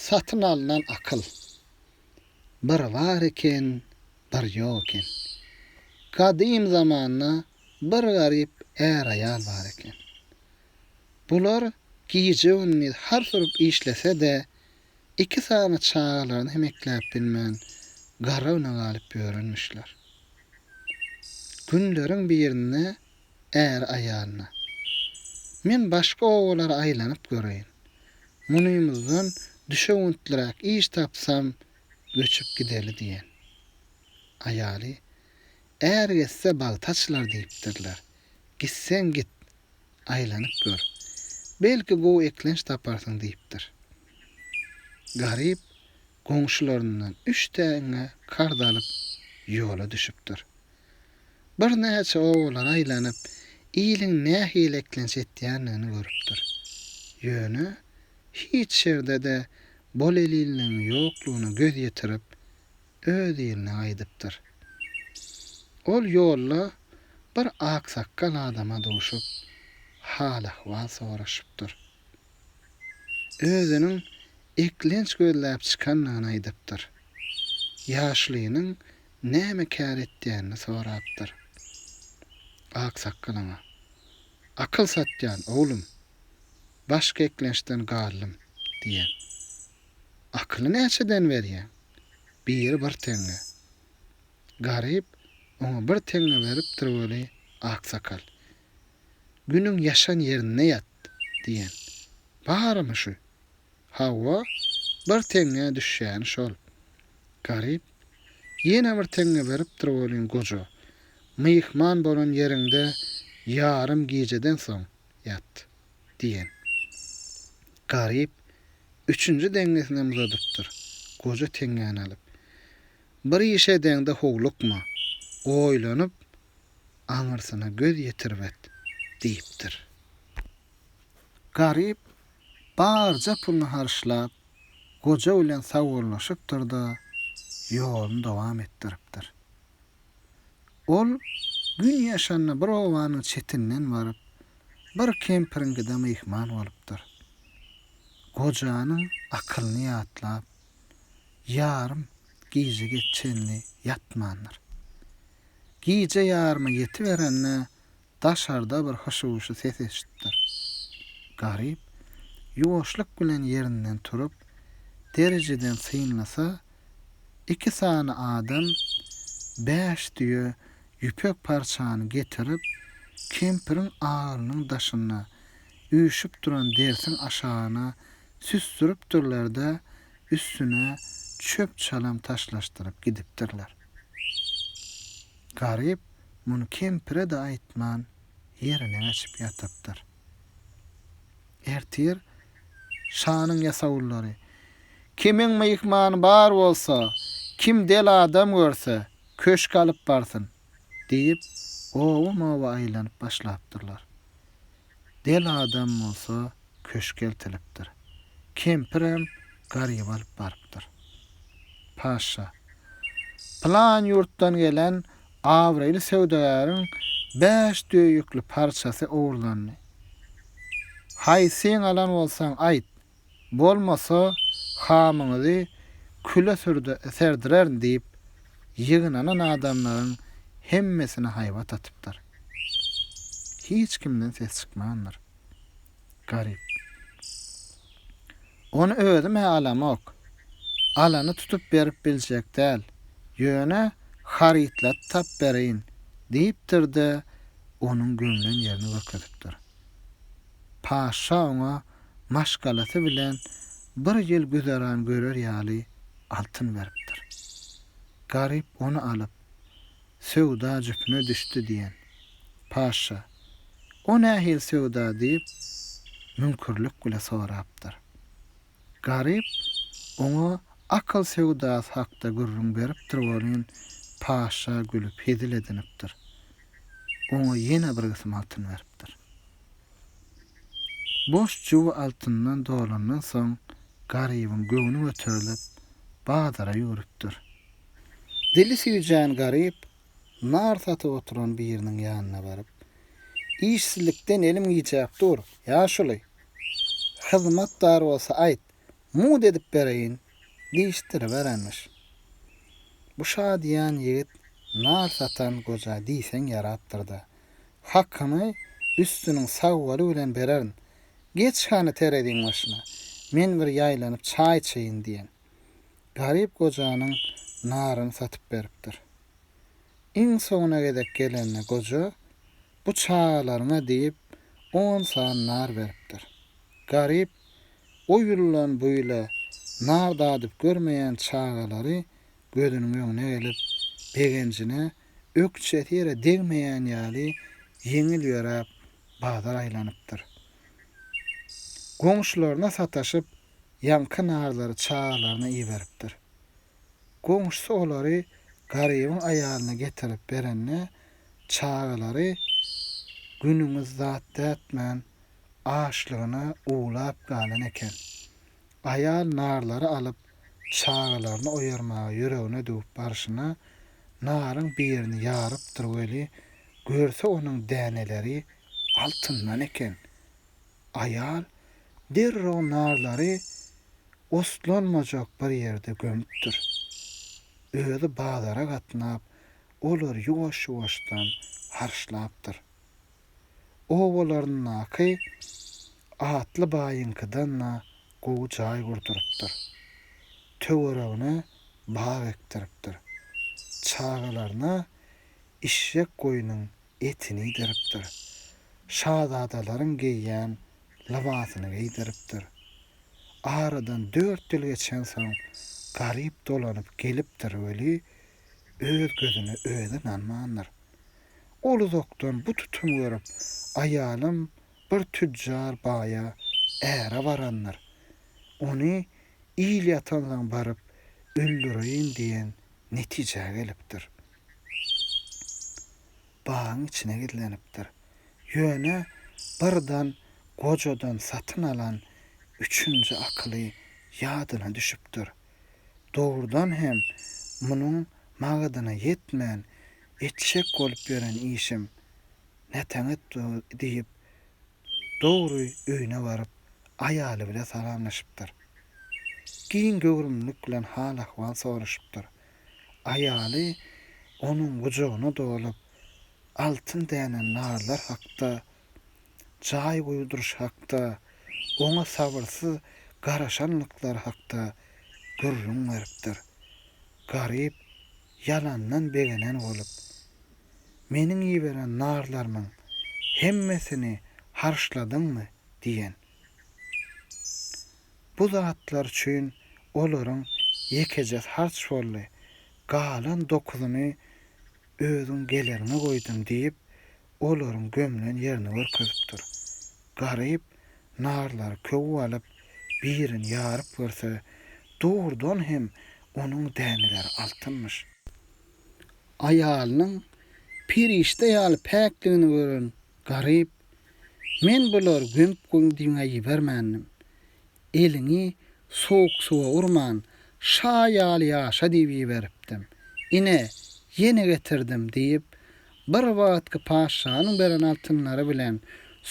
Satyn alnan akyl. Bir bar eken, bir ýok eken. Gadym zamanda bir garyp är-aýal bar eken. Bular gije-gündiz hars urup işlese-de, iki sany çagalaryny hem ekläp bilmän, garrygna galyp ýörenmişler. Günleriň birinde Äri aýalyna, Men başga obalara aýlanyp göreýin. Munymyzdan düşewüntliräk iş tapsam, göçüp gideli diýen. Aýaly, Är getse bagty açylar diýipdirler. Gitseň git, aýlanyp gör. Belki gowy eklenç taparsyň diýipdir. Garyp, goňşularyndan üç teňňe karz alyp ýola düşüpdir. Birnäçe obalary aýlanyp, iliň nähili eklenç etýändigini görüpdir. Ýöne hiç ýerde-de bolelinligiň ýoklugyna göz ýetirip, öz iline gaýdypdyr. Ol ýolda bir aksakgal adama duşup, hal-ahwal soraşypdyr. özüniň eklenç gözläp çykandygyny aýdypdyr. Ýaşlynyň näme kär etýänini sorapdyr. Aksakgal oňa, Akyl satýan, oglum. Başga eklençden galdym, diýen. Akyly näçeden berýäň? Biri bir teňňe. Garyp oňa bir teňňe beripdir weli, aksakal, Günüň ýaşan ýerinde ýat! diýen. Barymy şu? Hawa, bir teňňä düşýäni şol. Garyp, Ýene bir teňňe beripdir welin goja. Myhman bolan ýeriňde ýarym gijeden soň ýat! diýen. Garyp üçünji deňňesinem uzadypdyr. Goja teňňäni alyp. Bir iş edeňde howlukma, oýlanyp, aňyrsyna göz ýetirip et diýipdir. Garyp barja puluny harçlap, goja bilen sagbollaşypdyr-da, ýoluny dowam etdiripdir. Ol gün ýaşanda bir obanyň çetinden baryp, bir kempiriňkide myhman bolupdyr. Gojanyň akylyny ýatlap, ýarym gijege çenli ýatmandyr. Gije ýaryma ýetiberende daşarda bir hyşy-wyşy ses eşitdir. Garyp ýuwaşlyk bilen ýerinden turup, derijeden synlasa, iki sany adam bäş düýe ýüpek parçany getirip, kempiriň agylynyň daşynda üýşüp duran dersiň aşagyna süsdüripdirler-de, üstüne çöp-çalam taşlaşdyryp gidipdirler. Garyp muny kempire-de aýtman, ýerine geçip ýatypdyr. Ertir şanyň ýasawullary, Kimiň myhmany bar bolsa, kim del adam görse, köşge alyp barsyn! diýip, oba-moba aýlanyp başlapdyrlar. Del adam bolsa köşge eltilipdir. Kempirem Garyby alyp barypdyr. Paşşa, Pylan ýurtdan gelen abraýly söwdagäriň bäş düýe ýükli parçasy ogurlandy. Haýsyň alan bolsaň aýt, Bolmasa, hamyňyzy küle serdirerin diýip, ýygnanan adamlaryň hemmesine haýbat atypdyr. Hiç kimden ses çykmandyr. Garyp. Ony özüm-ä alamok. Alany tutup berip biljek däl. Ýöne harytlady tap bereýin, diýipdir-de, onuň gömlen ýerini görkezipdir. Paşşa oňa maşgalasy bilen bir ýyl güzeran görer ýaly altyn beripdir. Garyp ony alyp, söwda jüpüne düşdi diýen. Paşşa, O nähili söwda diýip, müňkürlik bile sorapdyr. Garyp oňa akyl söwdasy hakda gürrüň beripdir welin, paşa gülüp hezil edinipdir. Oňa ýene bir gysym altyn beripdir. Boş juwy altyndan dolandan soň, Garybyň göwni göterilip, bazara ýüwrüpdir. Dili süýjän Garyp nar satyp oturan biriniň ýanyna baryp, Işsizlikden elim giýjäp dur, ýaşuly! Hyzmat bar bolsa aýt, mugt edip bereýin diýişdiriberenmiş. Bu şa diýen ýigit nar satan goja diýseň ýarapdyr-da. Hakyny üstüniň sag bolu bilen bererin. Geç hany tereziň başyna, men bir ýaýlanyp çaý içeýin diýen. Garyp gojanyň naryny satyp beripdir. Iň soňuna gezek gelende goja Bu çagalaryňa diýip, on san nar beripdir. Garyp o ýyldan bu ýyla nar dadyp görmeýän çagalary gözüniň öňüne gelip, begenjine ökjesi ýere degmeýän ýaly ýeňil ýöräp, bazar aýlanypdyr. Goňşularyna sataşyp, ýaňky narlary çagalaryna iberipdir. Goňşusy olary Garybyň aýalyna getirip berende, çagalary günüňiz zat dätmän açlygyna uwlap galan eken. Aýal narlary alyp çagalaryny oýarmaga ýüregine düwüp barşyna naryň birini ýarypdyr weli, görse onuň däneleri altyndan eken. Aýal derrew narlary oslanmajak bir ýerde gömüpdir. Özi bazara gatnap olar ýuwaş-ýuwaşdan harçlapdyr. Obalaryndaky atly baýyňkydan-da gowy jaý gurdurypdyr. Töweregine bag ekdiripdir. Çagalaryna işşek goýnuň etini iýdiripdir. Şazadalaryň geýýän lybasyny geýdiripdir. Aradan dört ýyl geçensoň Garyp dolanyp gelipdir weli, öz gözüne özi ynanmandyr. Ol uzakdan bu tutumy görüp, aýalym bir tüjjar baýa äre barandyr. Ony il ýatansoň baryp öldüreýin diýen netijä gelipdir. Bagyň içine gizlenipdir. Ýöne bir dan gojadan satyn alan üçünji akyly ýadyna düşüpdir. Dogrudan hem, munuň magadyna ýetmän, etjek bolup ýören işim nätäňet dur, diýip, Dogry öýüne baryp, aýaly bile salamlaşypdyr. Giň göwrümlilik bilen hal-ahwal soraşypdyr. Aýaly onuň gujagyna dolup, altyn dänen narlar hakda jaý guýduryş hakda, oňa sabyrsyz garaşanlyklary hakda gürrüň beripdir. Garyp ýalandan begenen bolup, Meniň iberen narlarymyň hemmesini harçladyňmy? diýen. Bu zatlar üçin olaryň ýekejesi harç boldy, galan dokuzyny özüň geleriňe goýdum diýip, olaryň gömlen ýerini görkezipdir. Garyp, narlary köwüp alyp, birini ýaryp görse, dogrudan hem onuň däneleri altynmyş. Aýalynyň perişde ýaly päkdigini gören Garyp, Men bulary gömüp goýuň diýmä ibermändim. Eliňi sowuk suwa urman, şa ýaly ýaşa diýip iberipdim. Ine, ýene getirdim, diýip, bir wagtky patyşanyň beren altynlary bilen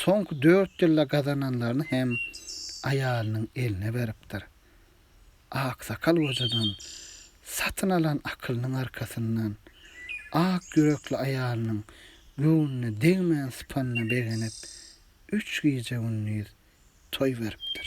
soňky dört ýylda gazananlaryny hem aýalynyň eline beripdir. Aksakal gojadan satyn alan akylynyň arkasyndan, ak ýürekli aýalynyň göwnüne degmän sypanyna begenip, üç gije-gündiz toý beripdir.